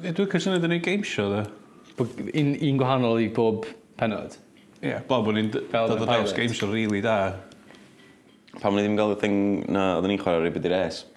Ie dwi licio swnio 'di neud game show 'de. Bo' g- un un gwahanol i bob pennod? Ie fel bo' ni'n d- fel dod o drawst game show rili da. Pam o'n i ddim ga'l y thing 'na odden ni'n chwara' Ribidires?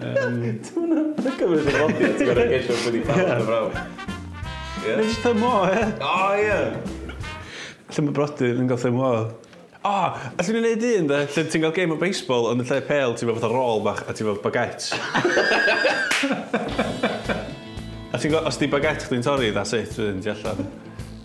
Yym. Ia? Mae jyst thumb o ia? O ia! Llun o brodyr yn ga'l thumb o. O! Allwn ni neud un 'de? Lle ti'n ga'l gêm o baseball ond yn lle pêl ti efo fatha rôl bach a ti efo baguette. A ti'n gwbo os 'di baguette chdi'n torri that's it wedyn ti allan.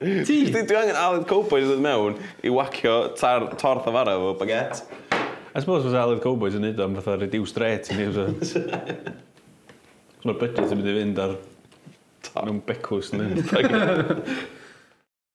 Ti! Dwi dwi angen Aled Cowboy i ddod mewn i whacio tar- torth a fara efo baguette. I suppose fysa Aled Cowboy yn neud o am fatha reduced rate i ni fysa? Achos ma'r budget yn mynd i fynd ar... Top. ...mewn becws yndi?